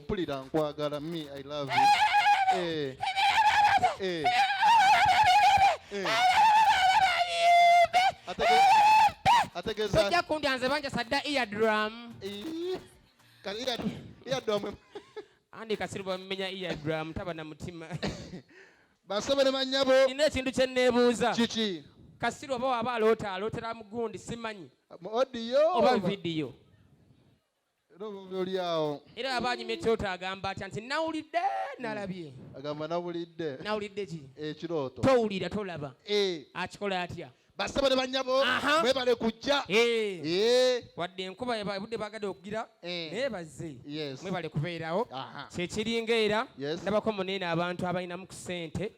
mpulira nkwagala me i love you eh eh eh atege ategeza tojja kundi anze banja sadda ear drum eh kan ear ear drum andi kasiru bamenya ear drum taba na mutima basabere manyabo ina ekintu kye nebuuza kiki kasiru oba waba aloota alootera mugundi simanyi mu audio oba video era aba anyumye ekirooto agamba atya nti nawulidde nalabye hmm. agamba nawulidde nawulidde ki ekirooto towulira tolaba eh. akikola atya basaba ne banyabo mwebale kujja eh. Eh. wadde enkuba ebudde bagade okugira naye bazze mwebale kubeerawo kyekiringa era ndabako muneene abantu abalinamu ku sente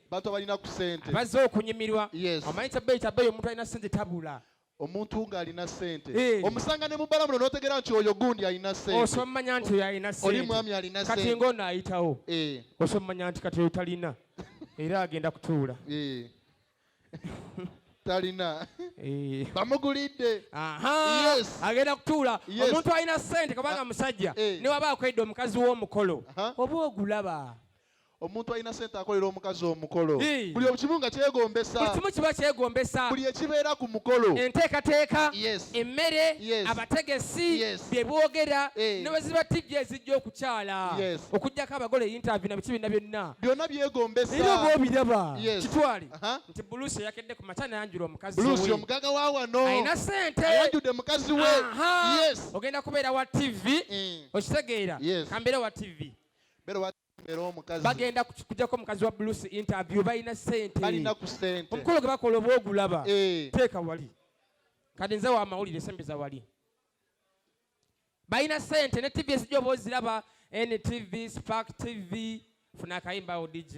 bazze okunyumirwa omanyi kyabeeyi kyabeeyi omuntu alina sente tabula omuntu ng'alina ssente eh. omusanga ne mubala muno n'otegeera nti oyo gundi alina senteosomanya nti oyo alina oli mwami alina kati ng'ono ayitawo eh. osomanya nti kati oyo talina era agenda kutuula eh. talina bamugulidde agenda kutuula omuntu alina ssente kubanga ah. musajja ne waba akwedde omukazi w'omukolo oba ogulaba omuntu alina sente akolera omukazi omukolo buli obukimu nga kyegombesa buli kimu kiba kyegombesa buli ekibeera ku mukolo enteekateeka emmere abategesi bye boogera ne bwe ziba tijja ezijja okukyala okuggyako abagole yintavi na biki bina byonna byonna byegombesa era oba obiraba kitwale nti buluusi eyakedde ku makya nayanjula omukazi buluusi omugaga wa wano alina sente ayanjudde mukazi we ogenda kubeera wa tivi mm. okitegeera kambeera wa tivi bagenda kujako mukazi wa blues interview balina sente omukolo gwe bakola oba ogulaba eh. teeka wali kati nze wamawulire esembeza wali balina sente ne tv ezijja oba oziraba ntv spark tv funa akayimbawo dj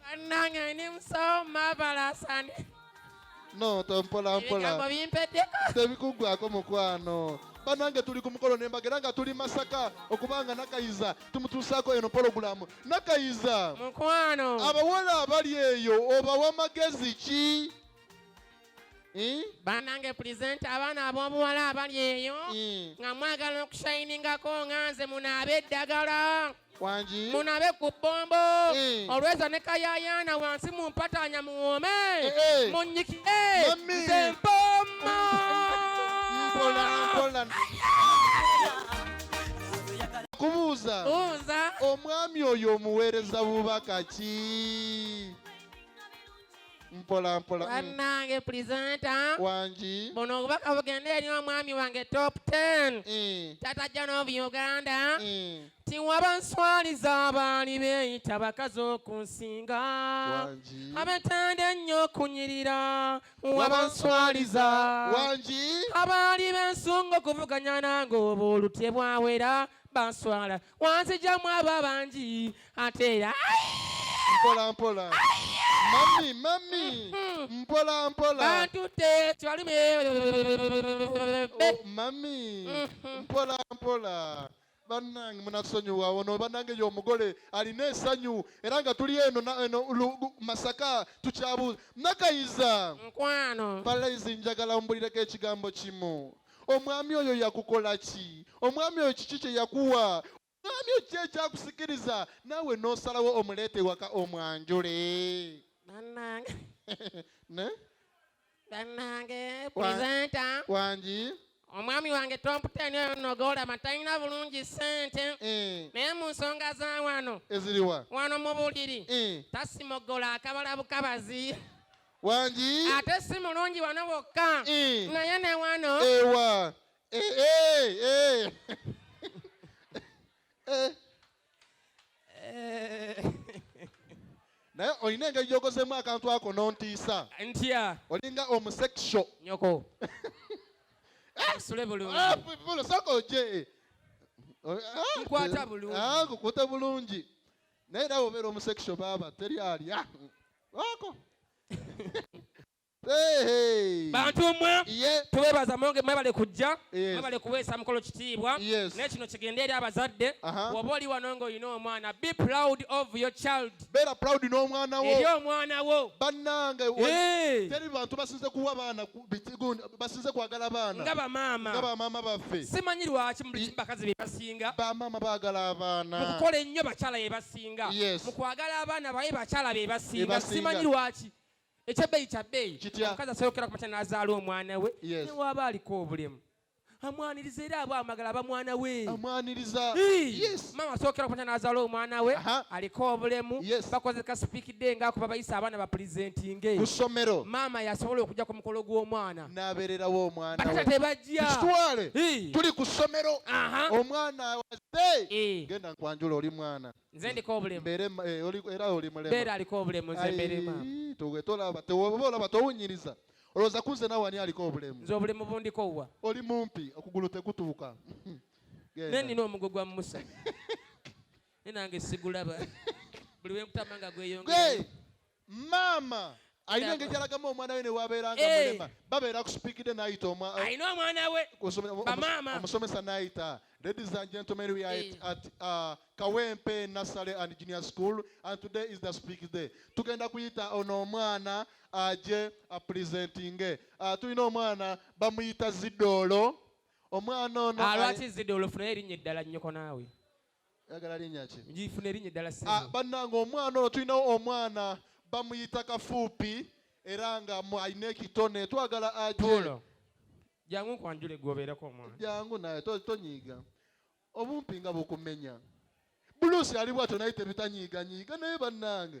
bannange ndi musawo mabalasani no tompola mpola tebikuggwako mukwano banange tuli ku mukolo nembaga era nga tuli masaka okubanga nakayiza tumutuusaako eno pologulamu nakayiza mukwano abawala abali eyo obawa magezi ki banange pulizenti abaana ab'obuwala abali eyo nga mwagala okushayiningako nga nze munaabe eddagala wangi munabe ku bbombo eh. olweza ne kayayaana wansi mu mpataanya muwoome eh, eh. munyikire nze mpoma kubuuza omwami oyo omuweereza bubaka ki mpola mpola banange mm. presenter wangi buno obubaka bugende eri omwami wange top 10 mm. tata john of uganda mm. tiwaba nswaliza abaali beeyita bakazi okunsinga abetanda ennyo okunyirira waba nswaliza wangi abaali bensunga okuvuganya nange oba olutye bwawera banswala wanzijamu abo abangi ate era mpola mpola mami mami hmm. mpola mpola antute kibalumi oh, mami hmm. mpola mpola banange munasonyiwa ono banange yo omugole alina esanyu era nga tuli eno eno masaka tukyabuuza nakayiza nkwano palaizi njagala ombulireko ekigambo kimu omwami oyo yakukola ki omwami oyo kiki kyeyakuwa omwami oyo ki ekyakusikiriza naawe nosalawo omuleeta ewaka omwanjule banange ne banange presenta wangi omwami wange tomputeni oyo nogolama talina bulungi sente eh. naye mu nsonga za wano eziriwa wano mu buliri eh. tasimogola akabala bukabazi wangi ate si mulungi wano wokka eh. naye ne wano ewa eh, eh, naye olina engeri gyokozemu akantu ako nontiisa ntya olinga omusexo nyoko osule bulungisaka ah, oje ah, nkwata bulungi ah, nkukwata bulungi naye era wobeera omusexo baaba teri alya Wako. bantu mmwe tubebaza mwonge mwebale kujja mwebale kuweesa mukolo kitiibwa naye kino kigende eri abazadde woba oli wano nga olina omwana be proud of your child beera proud n'omwana wo eri omwana wo bannange teri bantu basinze kuwa baana basinze kwagala baana nga bamaama nga bamaama baffe simanyi lwaki mu buli kimu bakazi bebasinga bamaama baagala abaana mukukola ennyo bakyala yebasi ekisinga mu kwagala abaana baye bakyala be basinga simanyi lwaki ekyebbeeyi kya bbeeyi omukazi asoyokera ku makya n'azaala omwana we newaaba aliko obulemu amwaniriza era aba amagala aba mwana we amwaniriza yes mama asokera kwata nazala omwana we aliko obulemu yes. bakoze ka speak day nga kuba bayisa abana ba presenting kusomero mama yasobola okuja ku mukolo gw'omwana nabererawo omwana we batata tebajja tuli kusomero omwana Eh. genda nkwanjula oli mwana nze ndiko obulemu eh, era oli mulemu era aliko obulemu nze mbere mama tuwe tolaba tewoba olaba towunyiriza olowooza kunze nawe ani aliko obulemu nze obulemu bundiko wa oli mumpi okugulu tekutuuka ne nina omugo gwa musa ne nange sigulaba buli wenkutama nga gweyongera maama alina engeri gyalagamu omwana we newabeera nga eh. mulema babeera kusipiikidde nayita eh, alina omwana we bamaama omusomesa nayita ladies and gentlemen we are at eh. uh, kawempe nasale and junior school and today is the speak day tugenda kuyita ono omwana aje apresentinge uh, tulina omwana bamuyita zidoolo omwana ono alwaki zidoolo funayo erinnya eddala nnyoko naawe Oyagala linnya ki? Ngifuna erinnya eddala ssebo. Ah, bannange omwana ono tulinawo omwana bamuyita kafuupi era nga mu- alina ekitone twagala aje Puulo. Jangu nkwanjule gwe obeereko omwana. jangu naye to- tonyiiga obumpi nga bukumenya buluusi ali bwatyo naye tebitanyiiganyiiga naye bannange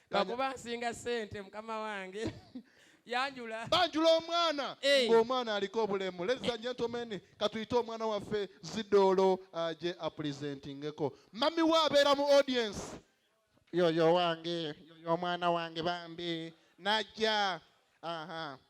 bakuba nsinga sente mukama wange yanjula banjula omwana hey. ng'omwana aliko obulemu ladies and gentlemen katuyite omwana waffe zidoolo aje uh, apresentingeko mami we abeera mu audience yoyo wange yoyo omwana wange bambi najja aha uh -huh.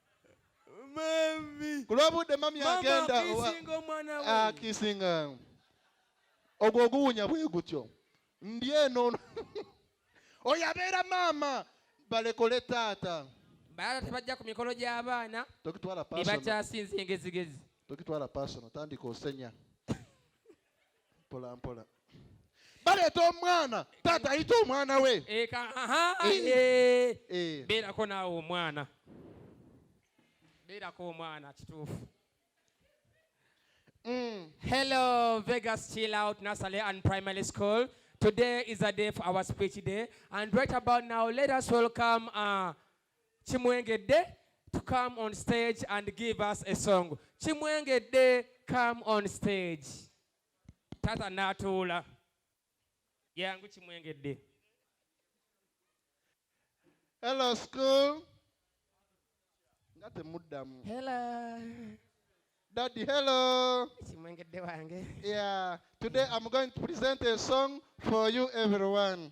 Mami. Ku lw'obudde mami agenda akisinga ah, ogwo oguwunya bwe gutyo ndi eno oyo abeera maama balekole taata bala tebajja ku mikolo gy'abaana tokitwala pasona tebakyasinza engezigezi tokitwala pasona tandika osenya mpola mpola baleeta omwana taata ayita omwana we eka aha Eh. eh. Eh. beerako naawe omwana beerako omwana kituufu Mm. Hello, Vegas Chill Out Nursery and Primary School. Today is a day for our speech day, and right about now, let us welcome uh, Kimwengedde to come on stage and give us a song. Kimwengedde come on stage. Tata natuula. Yangu Kimwengedde. Hello school. Nga temuddamu. Hello. Daddy, hello. Kimwengedde wange. Yeah. Today I'm going to present a song for you everyone.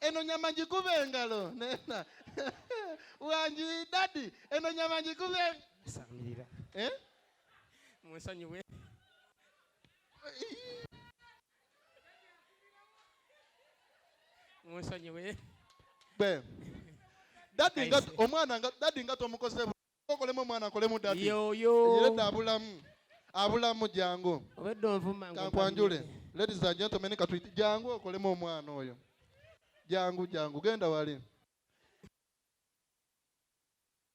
eno nyama njikube engalo nena wangi dadi eno nyama njikube samirira eh? munsonyiwe munsonyiwe dadi nga omwana dadi nga tomukoze Kolemu mwana kolemu dadi. Yo yo. Yireda abulamu. Abulamu jangu. Obeddo nvuma ngo. Kakwanjule. Ladies and gentlemen katwiti jangu okolemu omwana oyo. Jangu jangu genda wali.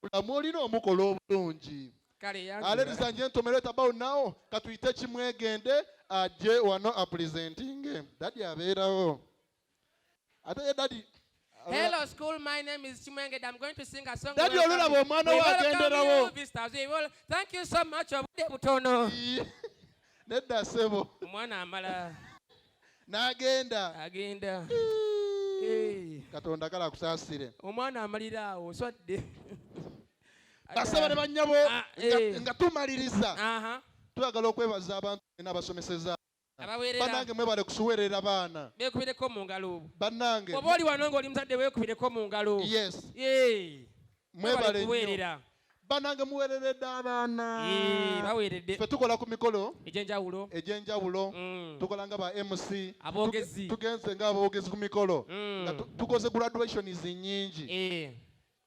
Abulamu olina omukola obulungi. Kale yangu. Ah, ladies and gentlemen right about now katwite kimwegende aje wano a presenting. Dadi abeerawo. ate ye dadi Hello school, my name is Chimwengede. I'm going to sing a song. Daddy olulaba omwana we agenderawo. Thank you so much obudde butono. Nedda sebo. Omwana amala. N'agenda. Agenda. Katonda kala akusaasire. Omwana amalira awo swadde. Basaba ne bannyabo ah, eh. nga tumaliriza. Twagala okwebaza abantu bena abasomeseza. abaweerera banange mwebale kusuwerera baana bekubireko mu ngalo banange oba oli wano ng'oli muzadde weekubireko mu ngalo yes mwebale kuweerera banange muwereredde abaana baweredde fe tukola ku mikolo egyenjawulo egyenjawulo mm. tukola nga ba mc aboogezi tugenze nga aboogezi ku mikolo mm. nga tukoze graduations nyingi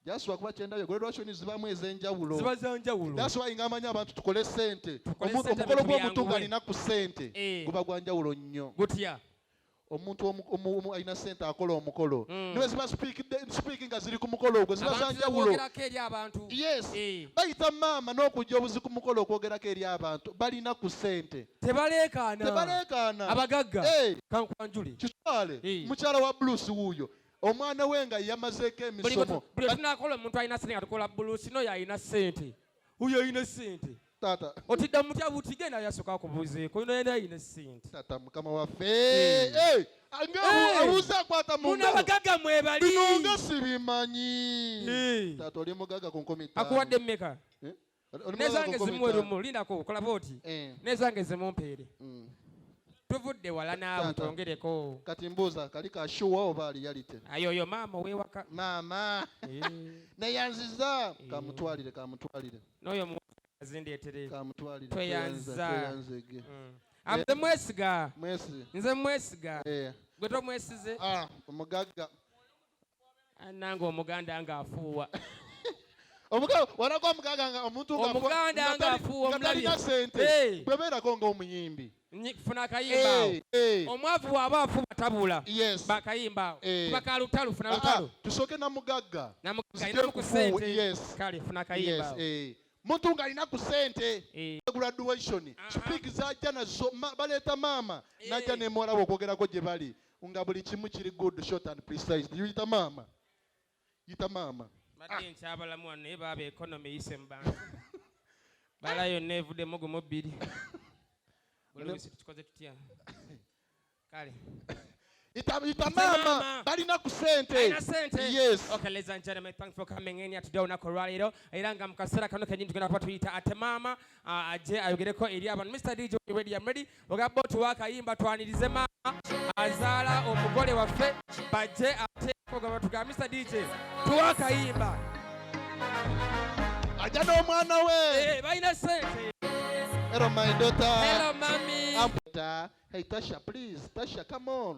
Just wakuba kyendabye graduation zibamu ezenjawulo. Ziba zanjawulo. That's why ngamanya abantu tukole sente. Omuntu omukolo gwo muntu ngalina ku sente. Eh. Guba gwanjawulo nnyo. Gutya. Omuntu omu alina sente akola omukolo. Mm. Niwe ziba speak speaking nga ziri ku mukolo ogwo ziba zanjawulo. Abantu eri abantu. Yes. Eh. Bayita maama n'okujja obuzi ku mukolo okwogerako eri abantu balina ku sente. Tebaleekaana. Tebaleekaana. Abagagga. Eh. Kankwanjuli. Kitwale. Eh. Mukyala wa Bruce wuuyo. omwana we nga yamazeeko emisomo buli tunakola omuntu alina sente nga tukola bulusi noyo alina sente uyo alina sente tata otidda mutya buti genda yasoka akubuzeeko ino yena alina sente tata mukama waffe hmm. abuuza akwata munabagaga mwebaliinonga sibimanyi hmm. tata oli mugaga ku nkomi akuwadde meka eh? nezange zimuwe lumu lindako okulaba oti eh. nezange zimumpeere mm. tuvudde wala naawe twongereko kati mbuuza kali kashuwa oba aliyalite ayoyo maama owewaka maama eh. neyanziza eh. kamutwalire kamutwalire noyo muzindeetere kamutwalire tweyanza mm. nze mwesiga nze mwesiga gwe tomwesize ah, omugagga nange omuganda nga afuuwa walaga omuganda nga omuntu omuganda nga afuuwa omutalina sente bwe beerako nga omuyimbi funa akayimba eh, eh. omwavu bwaba afuba tabula bakayimba awo eh. kuba ka lutalo funa lutalo tusooke na mugagga namugagga ku sente kale funa akayimba awo muntu ng'alina ku sente eh. graduation speak zajja nazo baleeta maama eh. najja nemuwalawo okwogerako gye bali nga buli kimu kiri good short and precise yita maama yita maama badde nkyabalamu wano naye baaba economy eyise mu bantu bala yonna evuddemu gumu bbiri bulobisi tukikoze tutya kale yita maama balina ku sente yes okay ladies and gentlemen thanks for coming in here today olunaku olwaleero era nga mu kaseera kano kenyini tugenda kuba tuyita ate maama ajje ayogereko eri abantu mr dj ready i'm ready ogamba otuwa akayimba twanirize maama azaala omugole waffe bajje ateeko gaba tugambisa dj tuwa akayimba ajja n'omwana we eh, balina sente Hello, my daughter. Hello, mommy. Hey, Tasha, please. Tasha, come on.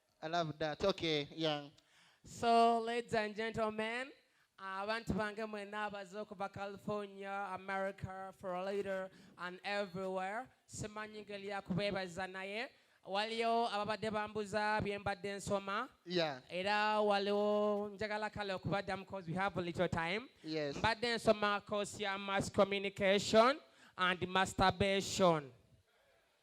I love that. Okay, yeah. So, ladies and gentlemen, abantu bange mwena abaze okuva california america florida and everywhere simanyi ngeri yakubeebaza naye waliyo ababadde bambuza bye mbadde nsoma era waliwo njagala kale okubaddamu cause we have a little time mbadde nsoma course ya mass communication and masturbation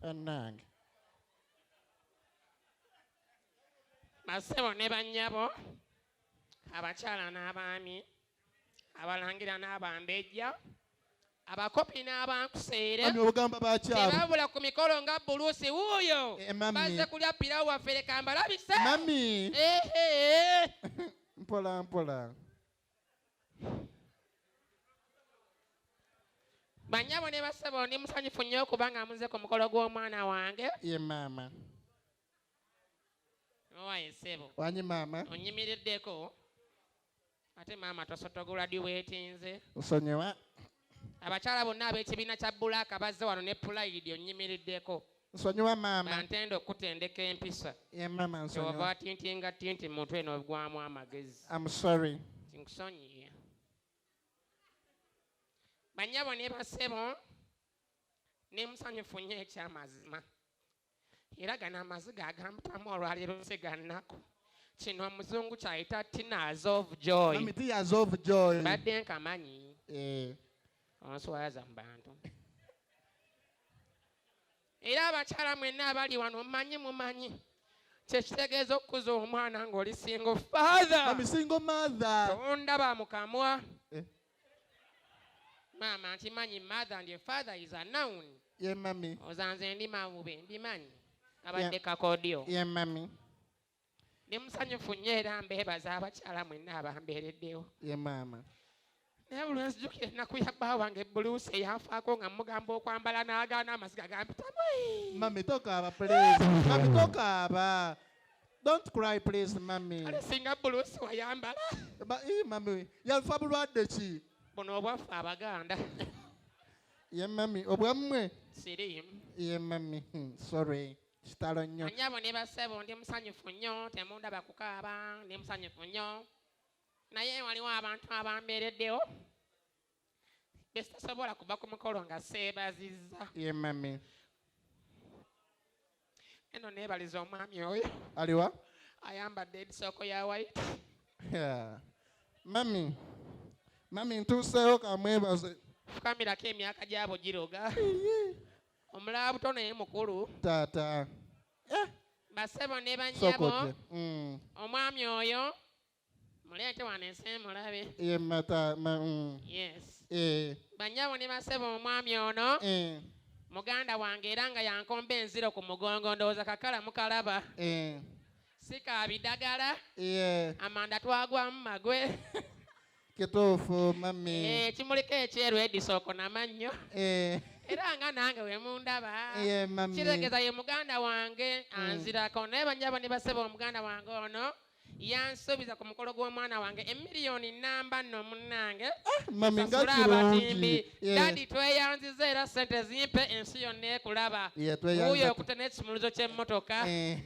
bannange basebo ne bannyabo abakyala n'abaami abalangira n'abambejja abakopi n'abankuseerebabula ku mikolo nga buluusi wuuyo eh, baze kulya pirawo waffe leka mbalabise mami mpola mpola banyabo ne basebo ndi musanyufu nnyo okubanga muze ku mukolo gw'omwana wange ye maama owaye sebo wanyi maama onyimiriddeko ate maama tosotogula diwetinze nsonyiwa Abakyala bonna ab'ekibiina kya Bulaaka bazze wano ne Pulayidi onnyimiriddeko. Nsonyiwa maama. Bantenda okukutendeka empisa. Ye maama nsonyiwa. Kyova tintinga tinti mu mutwe n'ogwamu amagezi. I'm sorry. Nkusonyiye. Bannyabo ne basebo ne musanyufu nnyo eky'amazima. era gano amaziga agampitamu olwaleero se gannaku kino omuzungu kyayita tears of joy tears of joy badde nkamanyi eh. onswaza mu bantu era abakyala mwenna abali wano mumanyi mumanyi kyekitegeeza okukuza omwana ng'oli singo father tonda bamukamwa eh. maama nkimanyi mother and father is a noun ye mami ozanze ndi mawube mbimanyi abadde kakodyo ye mami ndi musanyufu nnyo era mbeebaza abakyala mwenna abambeereddewo ye maama naye buli wenzijukira ennaku ya bba wange buluusi eyanfaako nga mugamba okwambala n'agaana amaziga gampitamu mami tokaaba please mami tokaaba Don't cry please mummy. Kale singa buluusi wayambala. Ba ee eh, mummy yafa bulwadde ki? Buno obwaffe abaganda. Ye mummy obwammwe? Siriimu. Ye mummy hmm, sorry. kitalo nnyo anyabo ne basebo ndi musanyufu nnyo temundaba kukaaba ndi musanyufu nnyo naye waliwo abantu abambeereddewo Bwe sitasobola kuva ku mukolo nga seebazizza. Ye mami. Eno neebaliza omwami oyo. Aliwa? Ayambadde edisooko ya white. Yeah. Mami. Mami ntuuseewo kamwebaze. Fukamirako emyaka gyabo giroga. Omulaba buto naye mukulu. Taata. Eh. Basebo ne bannyabo. Mm. Omwami oyo. Muleete wano ensi mulabe. Ye mata ma, mm. Yes. Eh, Bannyabo ne basebo omwami ono eh, muganda wange era nga yankomba enziro ku mugongo ndowooza kakala mukalaba. eh, Si ka bidagala yeah. amanda twagwamu magwe. Kituufu mami. Eh, Ekimuliko ekyeru Edison okonama nnyo. Eh, era nga nange wemundaba Ye, mami. kitegeeza ye muganda wange anzirako naye banyabo ne basebo omuganda wange ono yansuubiza ku mukolo gw'omwana wange emiliyoni nnamba nno munnange ah, sasula abatimbi dadi tweyanziza era sente zimpe ensi yonna ekulaba wuyo okute n'ekisumuluzo ky'emmotoka eh.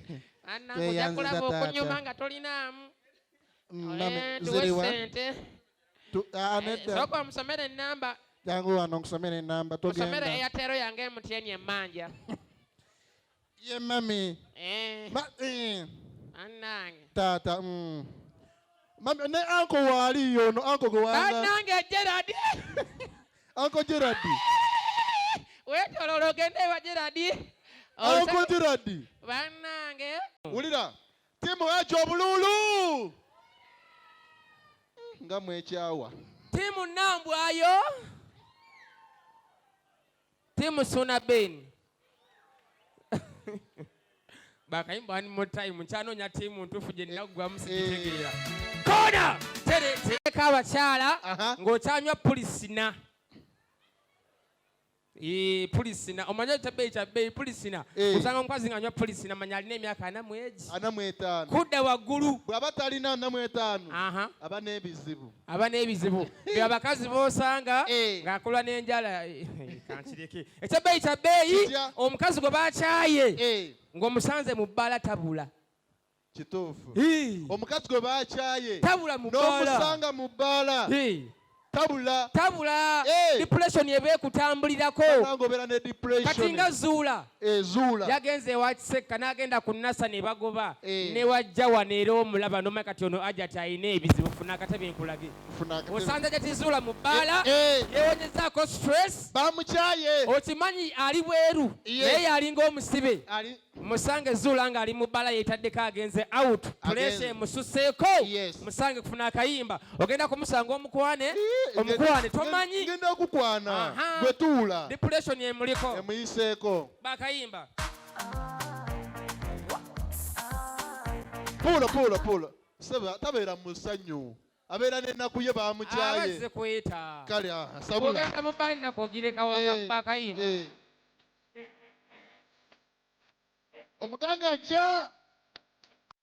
anange ojja kulaba okunyuma nga tolinaamu mm, eh, tuwe sente ah, eh, sooka omusomere ennamba jangu wano nkusomere ennamba osomere eyatero yange emutyenye emmanja ye mami eh. eh. anange taata mm. mami ne anko waali yono anko gwewanange geradi anko geradi wetololo ogende ewa geradi anko geradi banange wulira timu ejo obululu nga mwekyawa timu nambwayo Team Suna Ben. Bakayimba one more time. Nkyanoonya ttiimu ntuufu gye nina kuggwamu sikitegeera. Eh. Kona! Tereka abakyala ng'okyanywa pulisina. Eh, pulisina omanya kyabeeyi kyabeeyi pulisina eh. osanga omukazi ng'anywa pulisina manya alina emyaka ana mwegi ana mwetaano kudda waggulu bw'aba talina ana mwetaano aba n'ebizibu aba n'ebizibu be abakazi b'osanga eh. ng'akulwa n'enjala eh, eh, kankireke ekyabbeeyi kya bbeeyi omukazi gwe bakyaye ng'omusanze mu bbaala tabula kituufu omukazi gwe bakyaye tabula mu n'omusanga mu bbaala tabula tabula depression eba ekutambulirako kati nga zuula ezuula yagenze ewa kisekka n'agenda ku nasa ne bagoba eh. ne wajja wano era omulaba nomanya kati ono ajati alina ebizibu funa akatabi nkulage osanze ajati zuula mu bbaala eh, eh. yewonezaako stress bamukyaye okimanyi ali bweru naye yalinga omusibe musange zuula ng'ali mu bbaala yeetaddeko agenze out pulesa emususeeko musange kufuna akayimba ogenda kumusanga omukwane eh, omukwane tomanyi ngenda kukwana gwe tuula depression emuliko emuyiseeko bakayimba puulo puulo puulo seba tabeera mu ssanyu abeera n'ennaku ye bamukyaye kale ah, sabula omuganga nja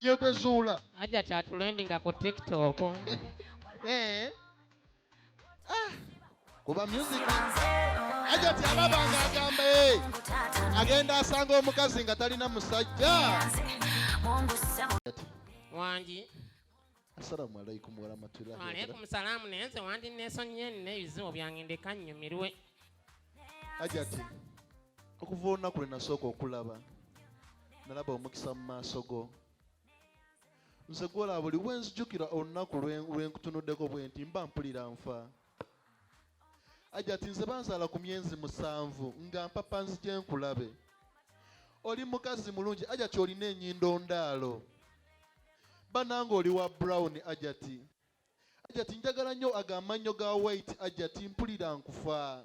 Ye gwe zuula. Hajat atulendinga ku tiktok. Eh. Kuba music. Hajat alaba nga agamba eh. Agenda asanga omukazi nga talina musajja. Wangi. Assalamu alaikum warahmatullahi wabarakatuh. Alaikum salamu naye nze wandi nesonyiye nina ebizibu byange ndeka nnyumirwe. Ajati okuva olunaku lwe nasooka okulaba nalaba omukisa mu maaso go nze gwolaba buli wenzijukira olunaku lwenkutunuddeko bwenti mba mpulira nfa ajati nze banzaala ku myezi musanvu nga mpapa nzije nkulabe oli mukazi mulungi ajati olina enyindo ndaalo bananga oli wa brown ajati ajati njagala nnyo agamannyo ga white ajati mpulira nkufaa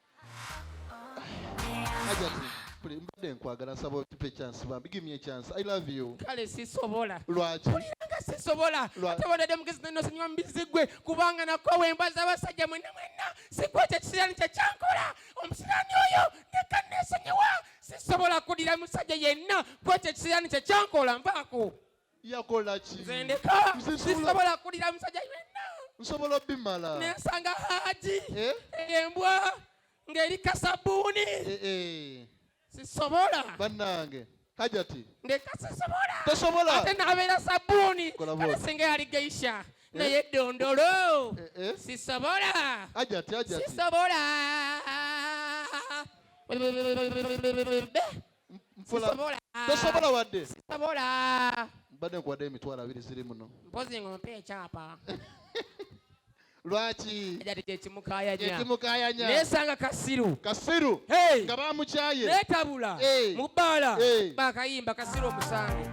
mbadde nkwagala nsaba otupe chance bambi give me a chance i love you kale sisobola lwaki kuliranga sisobola ate wadadde mugezi nnosonyiwa mubizi gwe kubanga nakwa wembaza abasajja mwenna mwenna sikuwa ekyo kisirani kye kyankola omusirani oyo neka nesonyiwa sisobola kulira musajja yenna kuwa ekyo kisirani kye kyankola nvaako yakola ki nze ndeka sisobola kulira musajja yenna nsobola obimala nensanga haji eh? embwa ng'eri kasabuuni eh, eh. sisobola bannange hajati ndeka sisobola tosobola ate nabeera sabuuni kale singa yali geisha naye dondolo sisobola hajati hajati sisobola tosobola wadde sisobola mbadde nkuwadde emitwalo abiri ziri muno mpozi ngompe ekyapa lwaki ejati kyekimukayanya kyekimukayanya nesanga kasiru kasiru hey. nga bamukyaye netabula hey. mubaala hey. bakayimba kasiru omusange